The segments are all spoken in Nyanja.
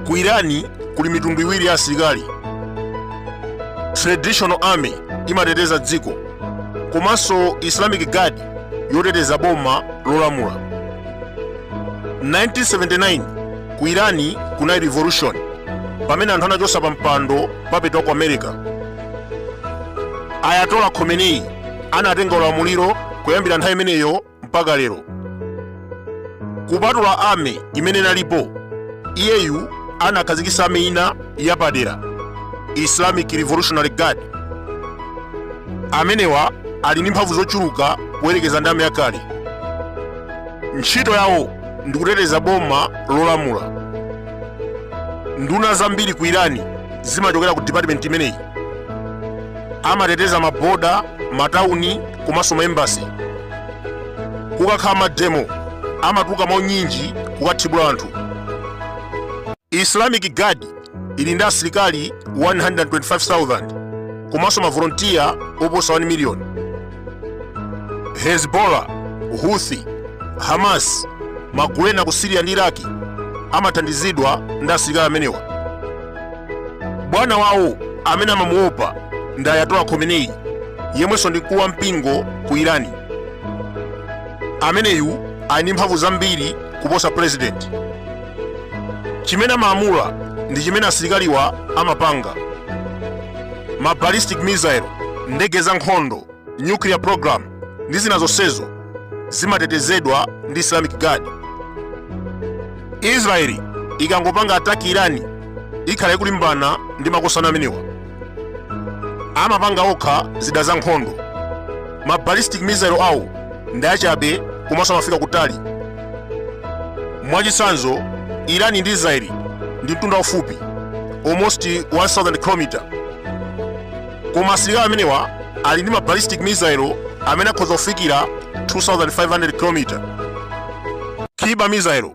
ku irani kuli mitundu iwiri ya asilikali traditional army imateteza dziko komanso islamic guard yoteteza boma lolamula 1979 Ku Iran kunali revolution pamene anthu anachotsa pa mpando puppet wa ku America. Ayatollah Khomeini anatenga ulamuliro kuyambira nthawi imeneyo mpaka lero. Kupatula army imene inalipo, iyeyu anakhazikitsa army ina yapadera, Islamic Revolutionary Guard. Amenewa ali ndi mphamvu zochuluka poyerekeza ndi army yakale. Ntchito yawo ndi kuteteza boma lolamula nduna zambiri ku irani zimachokera ku department imeneyi amateteza maboda matauni komanso maembasi kukakhala mademo amatuluka mwaunyinji kukathibula anthu islamic guard ili ndi asilikali 125,000 komanso mavolontiya oposa 1 miliyoni hezbollah houthi hamas magulu ena ku siriya ndi iraki amathandizidwa ndi asilikali amenewa bwana wawo amene amamuopa ndi ayatola khomeneyi yemwenso ndi mkulu wa mpingo ku irani ameneyu ali ndi mphamvu zambiri kuposa purezidenti chimene amalamula ndi chimene asilikaliwa amapanga ma ballistic missile ndege za nkhondo nuclear program ndi zina zonsezo zimatetezedwa ndi islamic guard israeli ikangopanga ataki irani ikhala ikulimbana ndi makosana amenewa amapanga okha zida za nkhondo ma ballistic missile awo ndi achabe komanso amafika kutali mwachitsanzo irani ndi israeli ndi mtunda ufupi almost 1000 km koma asilikali amenewa ali ndi ma ballistic missile amene akhoza kufikira 2500 km Kheibar missile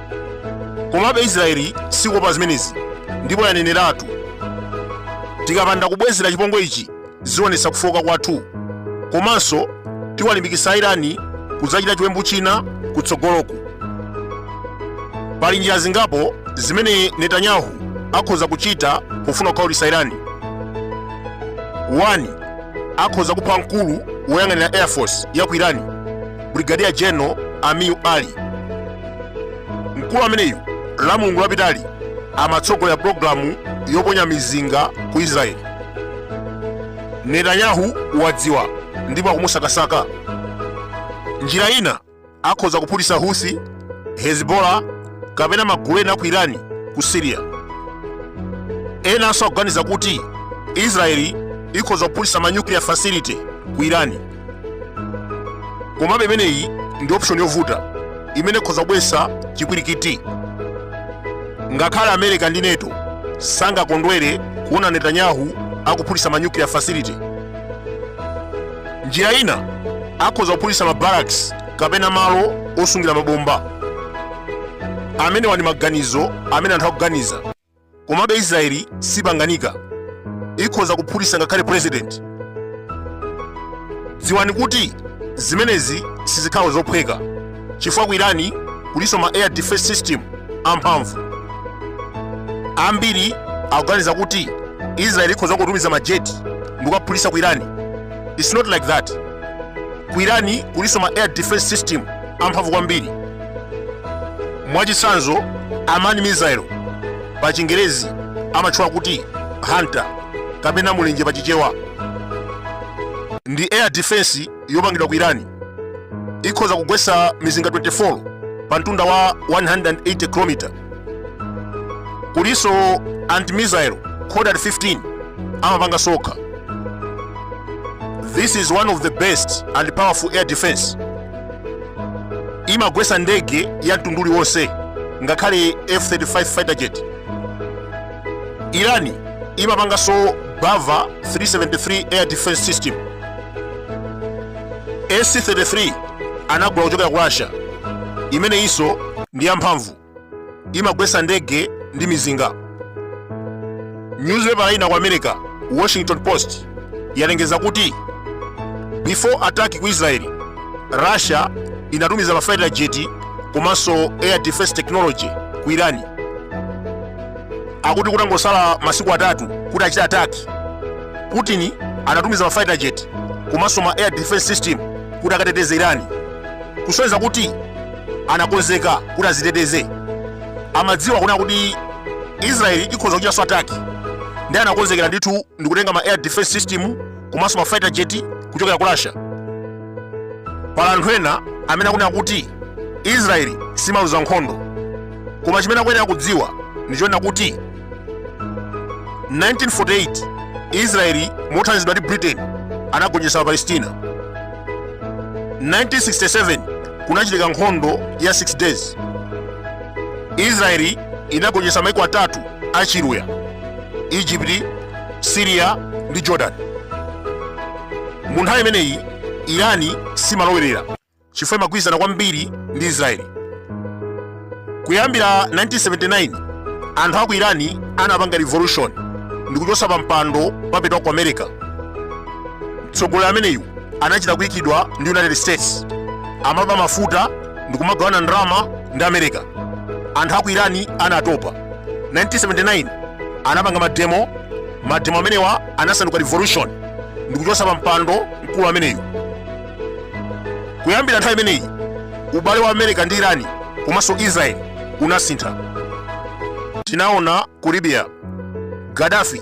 komabe israeli sikuopa zimenezi ndipo yaneneratu tikapanda kubwezera chipongwe ichi zionetsa kufooka kwathu komanso tiwalimbikitsa irani kudzachita chiwembu china kutsogoloku pali njira zingapo zimene netanyahu akhoza kuchita pofuna kukhawulitsa irani 1 akhoza kupha mkulu woyang'anira air force ya ku irani Brigadier General Amir Ali. Mkulu ameneyu la Mulungu lapitali amatsogolera pulogalamu yoponya mizinga ku Israeli. Netanyahu wadziwa ndipo akumusakasaka. Njira ina akhoza kuphulitsa Houthi, Hezbollah kapena magulu ena ku Irani ku Syria. Enanso akuganiza kuti Israeli ikhoza kuphulitsa ma nuclear facility ku Irani. komabe imeneyi ndi option yovuta imene ikhoza kubweretsa chipwirikiti ngakhale america ndi NATO sangakondwere kuona netanyahu akuphulitsa ma nuclear facility njira ina akhoza kuphulitsa ma barracks kapena malo osungira mabomba amenewa ndi maganizo amene anthu akuganiza komabe israeli sipanganika ikhoza kuphulitsa ngakhale president dziwani kuti zimenezi sizikhala zophweka chifukwa ku irani kulinso ma air defense system amphamvu ambiri akuganiza kuti israeli ikhoza kutumiza majeti ndikukaphulitsa ku irani it's not like that ku irani kulinso ma air defense system amphamvu kwambiri mwachitsanzo Arman missile pa chingerezi amatchula kuti hunter kapena mulenje pa chichewa ndi air defense yopangidwa ku irani ikhoza kugwetsa mizinga 24 pa mtunda wa 180 km kulinso anti-missile Khordad 15 amapanga sokha this is one of the best and powerful air defense imagwesa ndege ya mtundu uliwonse ngakhale f35 fighter jet irani imapanganso Bavar 373 air defense system ac-33 anagula kuchokera ku russia imeneyinso ndi yamphamvu imagwetsa ndege ndi mizinga nyuzipepala ina ku america washington post yalengeza kuti before attack ku israeli russia inatumiza ma fighter jet komanso air defense technology ku irani akuti kutangosala masiku atatu kuti achite attack putin anatumiza ma fighter jet komanso ma air defense system kuti akateteze irani kusonyeza kuti anakonzeka kuti aziteteze amadziwa kunena kuti israeli ikhoza kuchita so attack ndiye anakonzekera ndithu ndikutenga ma air defense system komanso ma fighter jet kuchokera ku russia pali anthu ena amene akunena kuti israeli simaluza nkhondo koma chimene akuyenera kudziwa ndi chonena kuti 1948 israeli mothandizidwa ndi britain anagonjetsa apalestina 1967 kunachitika nkhondo ya 6 days israeli inagonjetsa maiko atatu a chiluya egypt syria ndi jordan mu nthawi imeneyi irani simalowerera chifukwa imagwirizana kwambiri ndi Israeli. Kuyambira 1979 anthu a ku Irani anapanga revolution ndi kuchotsa pa mpando puppet wa ku America. Mtsogoleri ameneyu anachita kuyikidwa ndi United States, amaba mafuta ndi kumagawana ndalama ndi America. Anthu a ku Irani anatopa. 1979 anapanga mademo, mademo amenewa anasanduka revolution ndi kuchotsa pa mpando mkulu ameneyu. kuyambira nthawi imeneyi ubale wa america ndi irani komanso israel unasintha tinaona ku libya gaddafi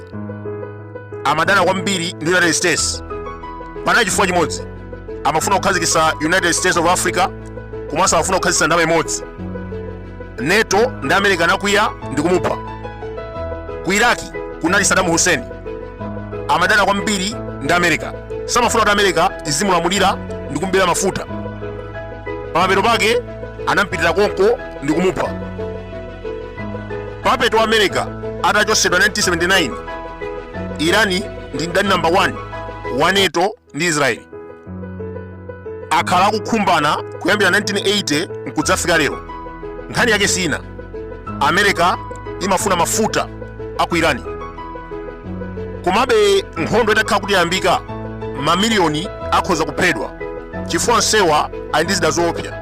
amadana kwambiri ndi united states panali chifukwa chimodzi amafuna kukhazikitsa united states of africa komanso amafuna kukhazikitsa ndalama imodzi nato ndi america anakwiya ndi kumupha ku iraki kunali saddam hussein amadana kwambiri ndi america samafuna kuti america izimulamulira ndi kumbera mafuta pamapeto pake anampitira konko ndi kumupha puppet wa america atachosedwa 1979 irani ndi mdani namba 1 wa nato ndi israeli akhala akukhumbana kuyambira 1980 nkudzafika lero nkhani yake si ina america imafuna mafuta a ku irani komabe nkhondo itakhala kuti yayambika mamiliyoni akhoza kuphedwa chifukwa onsewa ali ndi zida zoopsa